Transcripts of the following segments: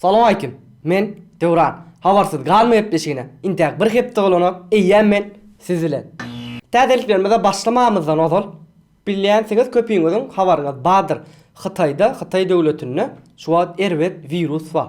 Salowmaleýkim. Men Döwran. Habarsyz galma gepleşigine intäk bir hepde bolanok, eýýäm men siz bilen. Täzeliklerimize başlamamyzdan ozal, bilýänsiňiz köpüňiziň habaryňyz bardyr, Hytaýda, Hytaý döwletinde şu wagt erbet wirus bar.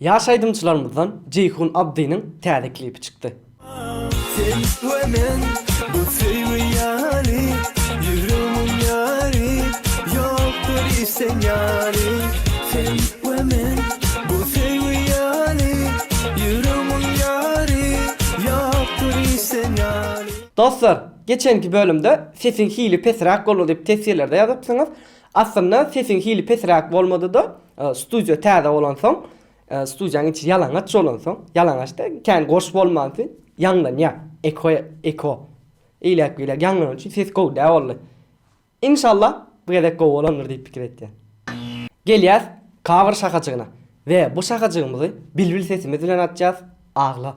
Ýaş aýdymçylarymyzdan Jeýhun Abdynyň täze klipi çykdy. Sen we men bu söýgi ýaly Ýüregimiň ýary Ýokdur hiç sen ýaly Sen we men bu söýgi ýaly Ýüregimiň ýary Ýokdur hiç sen ýaly. Dostlar, geçenki bölümde sesiň hili pesräk boldy diýip teswirlerde ýazypsyňyz. Aslynda sesiň hili pesräk bolmadyda studiýa täze bolansoň studiýaň içi ýalaňaç bolansoň ýalaňaç da kän goş bolmansy ýaňlanýa eko eko eýläk beýläk ýaňlany üçin ses gowy dä boldy inşallah bu gezek gowy bolandyr diýip pikir etýän gelýäs cover şahajygyna we bu şahajygymyzy bilbil sesimiz bilen atýas agla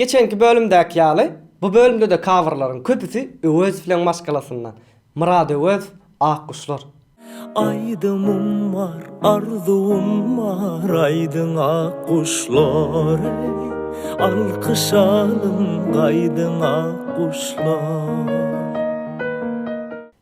Geçenki bölümdäki ýaly, bu bölümde-de kabrlaryň köpüsi Öwezowyň maşgalasyndan, Myrad Öwezow, Akguşlar. Aýdymym bar, arzuwym bar, aýdyň Akguşlar eý, Alkyş alyň, gaýdyň Akguşlar.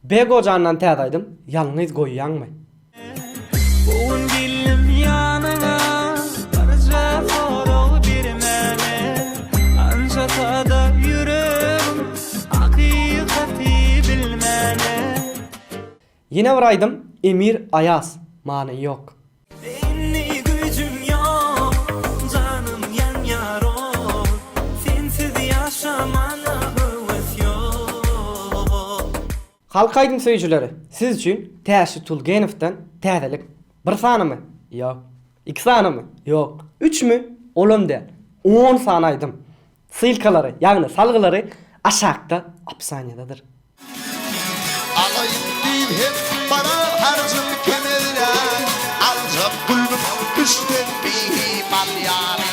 Bego jandan täze aýdym ýalňyz goýýaňmy. Gown gelnim ýanyňa barja sorag bermäne Ança sada ýüregim hakykaty bilmäne. Ýene bir aýdym Emir Aýaz many ýok. Halk aýdym söýüjileri, siz üçin Täşli Tulgenowdan täzelik. Bir sanymy? Ýok. Iki sanymy? Ýok. Üçmi? Olam däl. On sany aýdym. Ssylkalary, ýagny salgylary aşakda opsaniýadadyr. Alaýyn diýip hem barar harjym kemera, Aljak gülbin düşden bihimal ýaly.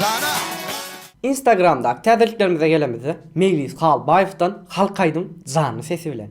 Jana. Instagramdaky täzeliklerimize gelemizde, Meýlis Halbaýewden halk aýdym janly sesi bilen.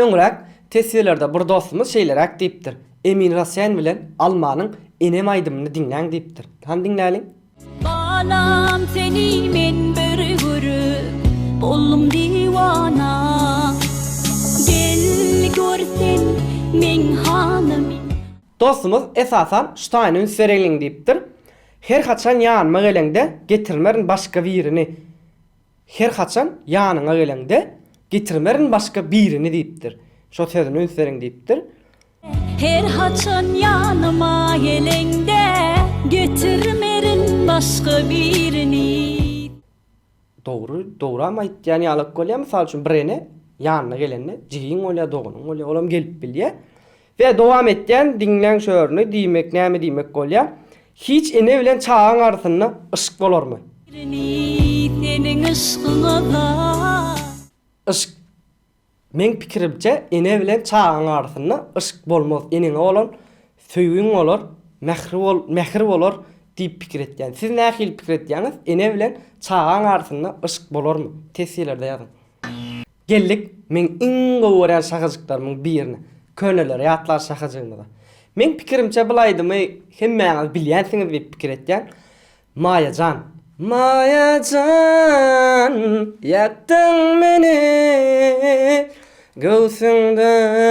Öňräk teswirlerde bir dostumyz şeýleräk diýipdir, Emin Rasen bilen Almanyň Enem aýdymyny diňläň diýipdir. Hany diňläliň. Balam seni men bir görüp boldum diwana Gel gör sen meň halymy. Dostumyz esasan şu taýyna üns bereliň diýipdir, Her haçan ýanyma geleňde getirmerin başga birini. Her haçan ýanyňa geleňde, Getirmerin başga birini diýipdir. Şo sözüni üns beriň diýipdir. Her haçan ýanyma geleňde, Getirmerin başga birini. Dogry, dogram aýtýan ýalak bolýar. Mysal üçin, birene ýanyna gelende jigiň bolýar, doganyň bolýar. Olam gelip bilýär. We dowam etýän diňläň şu örni diýmek näme diýmek bolýa hiç ene bilen çagaň arasynda yşk bolarmy. Birini seniň yşkyňa da. Yşk meň pikirimçe ene bilen çagaň arasynda yşk bolmaz eneňe bolan söýgiň bolar mähri bol mähir bolar diýip pikir etýän siz nähili pikir etýäňiz ene bilen çagaň arasynda yşk bolarmy tesjilerde ýazyň. Geldik meň iň gowy görýän şahyjyklarymyň birine, köneleri ýatlar şahyjygymyza. Meň pikirimçe bul aýdymy hemmäňiz bilýänsiňiz diýip pikir etýän. Maýa jan. Maýa jan, ýakdyň meni göwsüňden.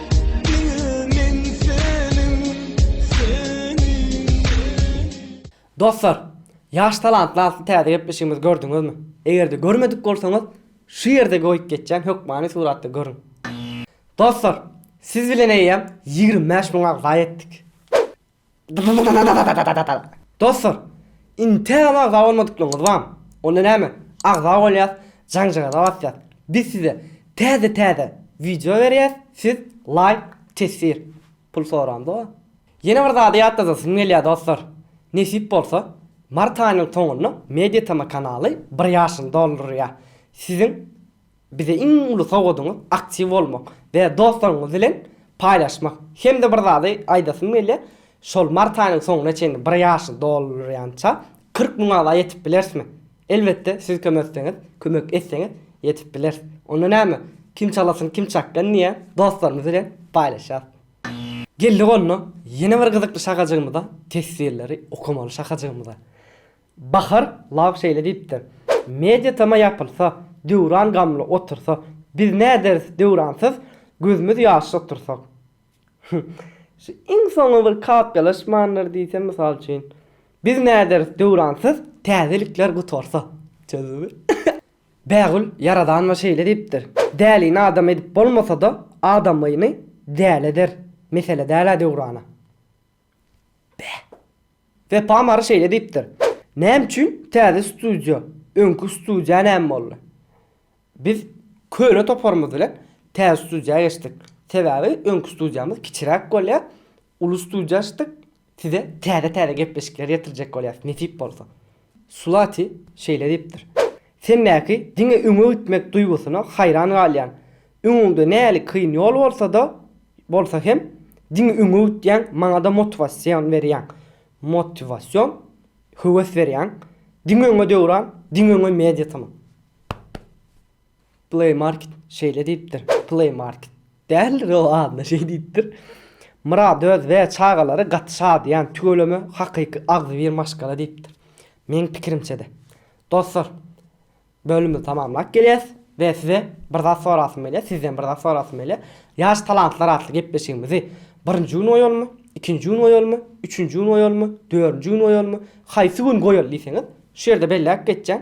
Dostlar, ýaş talantlar atly täze gepleşigimizi gördüňizmi? Eger-de görmedik bolsaňyz, şu ýerde goýup geçýän hökmany suratda görüň. Dostlar, siz bilen eýýäm ýigrimi bäş müň agza ýetdik. Dostlar, Intel-a agza bolmadyklygyňyz barmy? Onda näme, agza bolýas, jaňjagaza basýas. Biz size täze-täze wideo berýäs, siz laýk, teswir. Pul soramyz-ow. Ýene bir zady ýatladasym gelýär, dostlar. Nesip bolsa, mart aýynyň soňunda Mediatm kanaly bir ýaşyny doldurýar. Siziň. Bize iň uly sowgadyňyz aktiw bolmak we dostlaryňyz bilen paýlaşmak. Hem-de bir zady aýdasym gelýär, şol mart aýynyň soňuna çenli bir ýaşy doldurýança kyrk müň agza ýetip bilerismi? Elbetde, siz kömek etseňiz, kömek etseňiz ýetip bileris. Onda näme, kim çalasyn, kim çakgan diýýän dostlarymyz bilen paýlaşýarys. Geldik onda, ýene bir gyzykly şakajygymyza, teswirleri okamaly şakajygymyza. Bahar Love şeýle diýipdir, Media tama ýapylsa, Döwran gamly otursa, Biz näderis Döwransyz, Gözümiz ýaşly otursak. Hüh, şu iň soňy bir kapyýalaşmandyr diýsem, mysal üçin, Biz näderis Döwransyz, Täzelikler gutarsa. Çözüldimi? Bägül Ýaradanowa şeýle diýipdir, Dälini adam edip bolmasa-da, adamyny däli eder. Mesele däl-ä Döwrana. Beh. Wepa Mary şeýle diýipdir, Näme üçin täze studiýa, öňki studiýa näme boldy? Biz köne toparymyz bilen täze studiýa geçdik. Sebäbi öňki studiýamyz kiçiräk bolýar, uly studiýa açdyk, size täze-täze gepleşikleri ýetirjek bolýarys, nesip bolsa. Sulati şeýle diýipdir, Sendäki diňe öňe gitmek duýgusyna haýran galýan. Öňüňde näli kyn ýol bolsa-da bolsa hem, diňe öňe gitýäň, maňa-da motiwasion berýäň. Motiwasion, höwes berýäň. Diňe öňe Döwran, diňe öňe Media tm. Play Market şeýle diýipdir, Play Market däldir ol adyna şeý diýipdir, Myrat öz we çagalary gaty şadyýan tüweleme hakyky agzybir maşgala diýipdir. Meň pikirimçede. Dostlar bölümi tamamlap gelýäs we size bir zat sorasym gelýär, sizden bir zat sorasym gelýär. Ýaş talantlar atly gepleşigimizi birinji gün goýalymy, ikinji gün goýalymy, üçünji gün goýalymy, dördünji gün goýalymy, haýsy gün goýaly diýseňiz şu ýerde belläp geçýän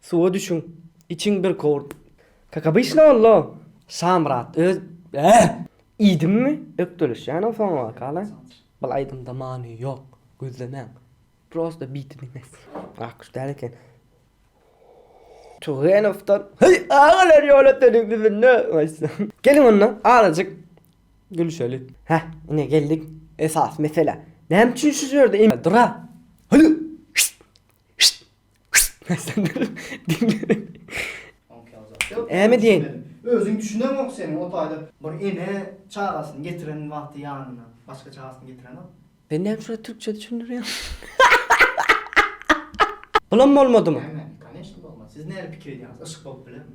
Suwa düşüň. Içiň bir kowurt. Kak obyçny bollo. Şamyrat öz Äh! Iýdimmi? Ökdelişýänow soň wakalar. Bul aýdymda many ýok. Gözlemäň. Prosta biti diňläň. Akguş däl eken. Tugenowdan Heý, agalar ýolöteniň düzünde goýsa. Geliň onda, azajyk gülüşeli. Häh, ine geldik esasy meselä. Näme üçin şu ýerde in Dura? Hüli! Şşşt! Şşşt! Äme diýen. Özüň düşünemok seniň o taýda bir ene çagasyny getiren wagty ýanyna başga çagasyny getirenok. Ben näme şular türkçe düşündirýän. Bulam bolmadymy? Näme? Koneşna bolmady. Siz näme pikir edýäňiz? Yşk bolup bilermi?